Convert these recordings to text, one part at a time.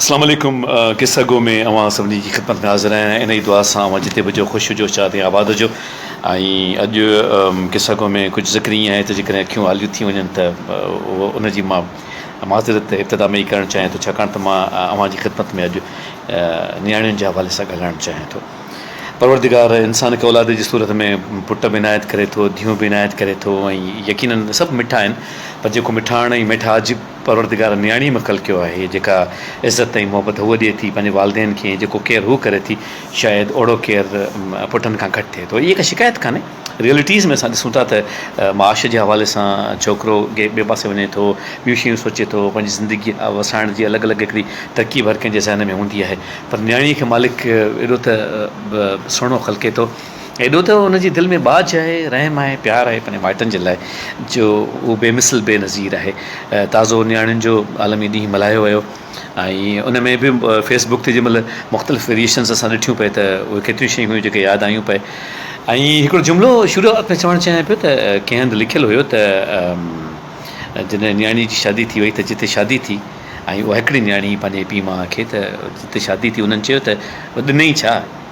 اسلام عليڪم قصه گو ۾ اوهان سڀني جي خدمت ۾ حاضر آهيان انهي دعا سان اوهان جتي به هجو خوش هجو شاد ۽ آباد هجو ۽ اڄ قصه گو ۾ ڪجهه ذڪر ائين آهي ته جيڪڏهن اکيون آليون ٿي وڃن ته ان جي مان معذرت ابتدا ۾ ئي ڪرڻ چاهيان ٿو ڇاڪاڻ ته مان اوهان جي خدمت ۾ اڄ نياڻين جي حوالي سان ڳالهائڻ چاهيان ٿو پروردگار انسان کي اولاد جي صورت ۾ پٽ به عنايت ڪري ٿو ڌيون به عنايت ڪري ٿو ۽ يقينن سڀ مٺا آهن پر جيڪو مٺاڻ ۽ ميٺا عجيب پروردگار نياڻيء ۾ خلقيو آهي، جيڪا عزت ۽ محبت هوء ڏئي ٿي پنهنجي والدين کي ۽ جيڪو ڪيئر هوء ڪري ٿي، شايد اوڙو ڪيئر پٽن کان گهٽ ٿئي ٿو. هيء ڪا شڪايت ڪانهي. ريئلٽيز ۾ اسان ڏسون ٿا ته معاش جي حوالي سان ڇوڪرو ڪنهن ٻئي پاسي وڃي ٿو، ٻيون شيون سوچي ٿو، پنهنجي زندگي وسائڻ جي الڳ الڳ هڪڙي ترڪيب هر ڪنهن جي ذهن ۾ هوندي آهي، پر نياڻيء کي مالڪ ايڏو ته سهڻو خلقي ٿو، ايڏو ته ان جي دل ۾ ٻاجهه آهي، رحم آهي، پيار آهي پنهنجي مائٽن جي لاء جو هو بي مثل بي نظير آهي. تازو نياڻين جو عالمي ڏينهن ملهايو ويو ۽ ان ۾ به فيس بڪ تي جنهن مهل مختلف ويريئيشنس اسان ڏٺيون پئي ته اهي ڪيتريون شيون هيون جيڪي ياد آيون پئي ۽ هڪڙو جملو شروعات ۾ چوڻ چاهيان پيو ته ڪنهن هنڌ لکيل هيو ته جڏهن نياڻي جي شادي ٿي وئي ته جتي شادي ٿي ۽ اها هڪڙي نياڻي پنهنجي پيء ماء کي ته جتي شادي ٿي انهن چيو ته ڏنئي ڇا؟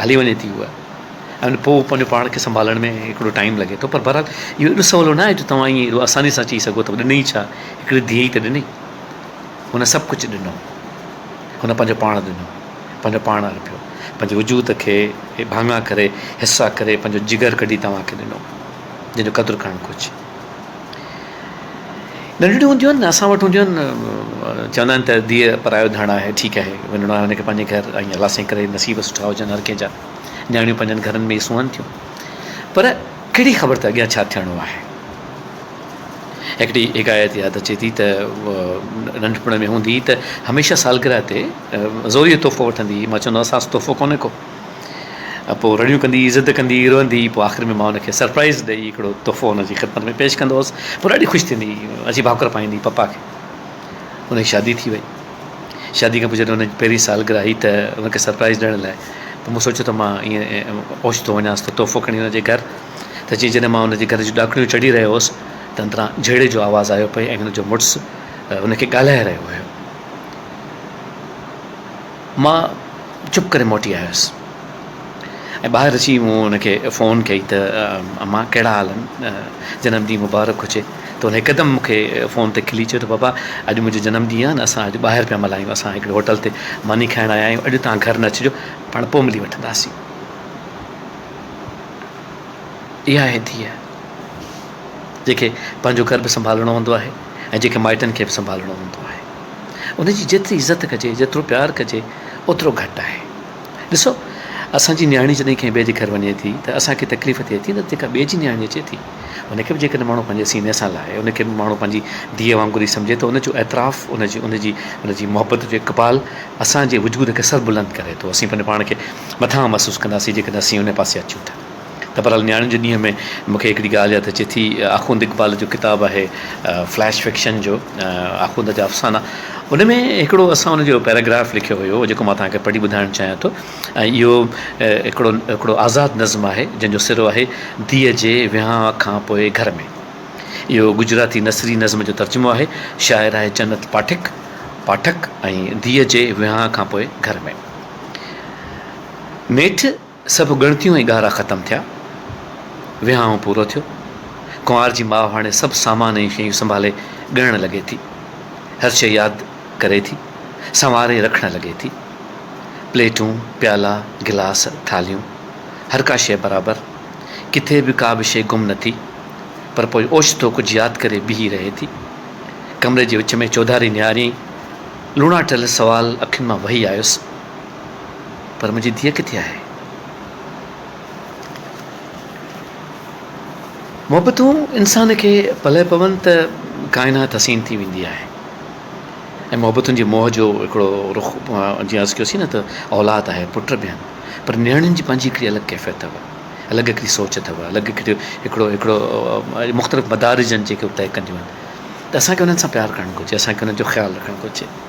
هلي وڃي ٿي هوء ۽ پوء پنهنجو پاڻ کي سنڀالڻ ۾ هڪڙو ٽائيم لڳي ٿو پر بهرحال اهو اهڙو سولو ناهي جو توهان ايئن اهڙو آساني سان چئي سگهو ته ڏنئي ڇا هڪڙي ڌيء ئي ته ڏني هن سڀ ڪجهه ڏنو هن پنهنجو پاڻ ڏنو پنهنجو پاڻ ارپيو پنهنجي وجود کي ڀاڱا ڪري حصا ڪري پنهنجو جگر ڪڍي توهان کي ڏنو جنهن جو قدر ڪرڻ گهرجي ننڍڙيون هونديون آهن اسان وٽ هونديون آهن چوندا آهن ته ڌيء پرايو ڌڻ آهي ٺيڪ آهي وڃڻو آهي هن کي پنهنجي گهر ۽ الله سائين ڪري نصيب سٺا هجن هر ڪنهن جا نياڻيون پنهنجن گهرن ۾ ئي سونهن ٿيون پر ڪهڙي خبر ته اڳيان ڇا ٿيڻو آهي هڪڙي حڪايت ياد اچي ٿي ته ننڍپڻ ۾ هوندي ته هميشه سالگره تي زوريء تحفو وٺندي هئي مان چوندو هوس آز تحفو ڪونهي ڪو پوء رڙيون ڪندي، ضد ڪندي، روئندي، پوء آخر ۾ مان هن کي سرپرائيز ڏئي هڪڙو تحفو هن جي خدمت ۾ پيش ڪندو هوس. پوء ڏاڍي خوش ٿيندي عجيب هاڪر پائيندي پپا کي. هن جي شادي ٿي وئي. شادي کان پوء جڏهن هن جي پهرين سالگرهه هئي ته هن کي سرپرائيز ڏيڻ لاء پوء مون سوچيو ته مان ائين اوچتو وڃانس ٿو تحفو کڻي هن جي گهر ته جيئن جڏهن مان هن جي گهر جون ڏاڪڻيون چڙهي رهيو هوس ته اندران جهيڙي جو آواز آيو پئي ۽ هن جو مڙس هن کي ڳالهائي رهيو هيو. مان چپ ڪري موٽي آيس ۽ ٻاهر اچي مون ان کي فون ڪئي ته امان ڪهڙا حال آهن جنم ڏينهن مبارڪ هجي ته ان هڪدم مون کي فون تي کلي چيو ته بابا اڄ منهنجو جنم ڏينهن آهي اسان اڄ ٻاهر پيا ملهايون اسان هڪڙي هوٽل تي ماني کائڻ آيا آهيون اڄ تان گهر نه اچجو پاڻ پوء ملي وٺنداسين اها آهي ڌيء جنهن کي پنهنجو گهر به سنڀالڻو هوندو آهي ۽ جنهن کي مائٽن کي به سنڀالڻو هوندو آهي ان جي جيتري عزت ڪجي جيترو پيار ڪجي اوترو گهٽ آهي ڏسو اسان جي نياڻي جڏهن ڪنهن ٻئي جي گهر وڃي ٿي ته اسان کي تڪليف ٿئي ٿي نه جيڪا ٻئي جي نياڻي اچي ٿي ان کي به جيڪڏهن ماڻهو پنهنجي سيني سان لاهي ان کي به ماڻهو پنهنجي ڌيء وانگر ئي سمجهي ته ان جو اعتراف ان جي ان جي ان جي محبت جو اقبال اسان جي وجود کي سربلند ڪري ٿو اسين پنهنجو پاڻ کي مٿاهان محسوس ڪنداسين جيڪڏهن اسين ان پاسي اچون ٿا ته بھرحال نياڻين جي ڏينهن ۾ مونکي هڪڙي ڳالهه ياد اچي ٿي آخوند اقبال جو ڪتاب آهي فليش فڪشن جو آخوند جا افسانا ان ۾ هڪڙو اسان ان جو پيراگراف لکيو هيو جيڪو مان تهانکي پڙهي ٻڌائڻ چاهيان ٿو ۽ اهو هڪڙو هڪڙو آزاد نظم آهي جنهن جو سرو آهي ڌيء جي ويهانء کان پوء گهر ۾ اهو گجراتي نثري نظم جو ترجمو آهي شاعر آهي جنت پاٺڪ پاٺڪ ۽ ڌيء جي ويهانء کان پوء گهر ۾. نيٺ سڀ ڳڻتيون ۽ ڳارا ختم ٿيا. وهانء پورو ٿيو. ڪنوار جي ماء هاڻي سڀ سامان ۽ شيون سنڀالي ڳڻڻ لڳي ٿي. هر شيء ياد ڪري ٿي. سنواري رکڻ لڳي ٿي. پليٽون، پيالا، گلاس، ٿالهيون، هر ڪا شيء برابر. ڪٿي به ڪا به شيء گم نه ٿي. پر پوء اوچتو ڪجهه ياد ڪري بيهي رهي ٿي. ڪمري جي وچ ۾ چوڌاري نهاريائين. لوڻا ٺهيل سوال اکين مان وهي آيس. پر منهنجي ڌيء ڪٿي آهي؟ محبتون انسان کي پلئه پون ته ڪائنات حسين ٿي ويندي آهي ۽ محبتن جي موهه جو هڪڙو رخ جيئن عرض ڪيوسين نه ته اولاد آهي پٽ به آهن پر نياڻين جي پنهنجي هڪڙي الڳ ڪيفيت اٿو الڳ هڪڙي سوچ اٿو الڳ هڪڙي هڪڙو هڪڙو مختلف مدارجن جيڪي طئي ڪنديون آهن ته اسان کي انهن سان پيار ڪرڻ گهرجي اسان کي انهن جو خيال رکڻ گهرجي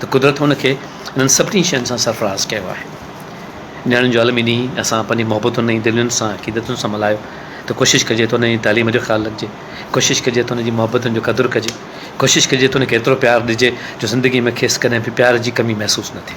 ته قدرت هن کي انهن سڀني شين سان سرفراز ڪيو آهي. نياڻين جو عالم انهيء سان پنهنجي محبتن ۽ دلين سان عقيدتن سان ملهايو ته ڪوشش ڪجي ته انهن جي تعليم جو خيال رکجي، ڪوشش ڪجي ته انهن جي محبتن جو قدر ڪجي، ڪوشش ڪجي ته انهن کي ايترو پيار ڏجي جو زندگيء ۾ کيس ڪڏهن به پيار جي ڪمي محسوس نه ٿئي.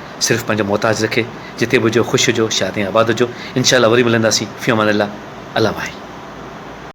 صرف پنهنجو محتاج رکي جتي به هجو خوش هجو شاد ۽ آباد هجو انشاء الله وري ملنداسين في امان الله الله ماهي.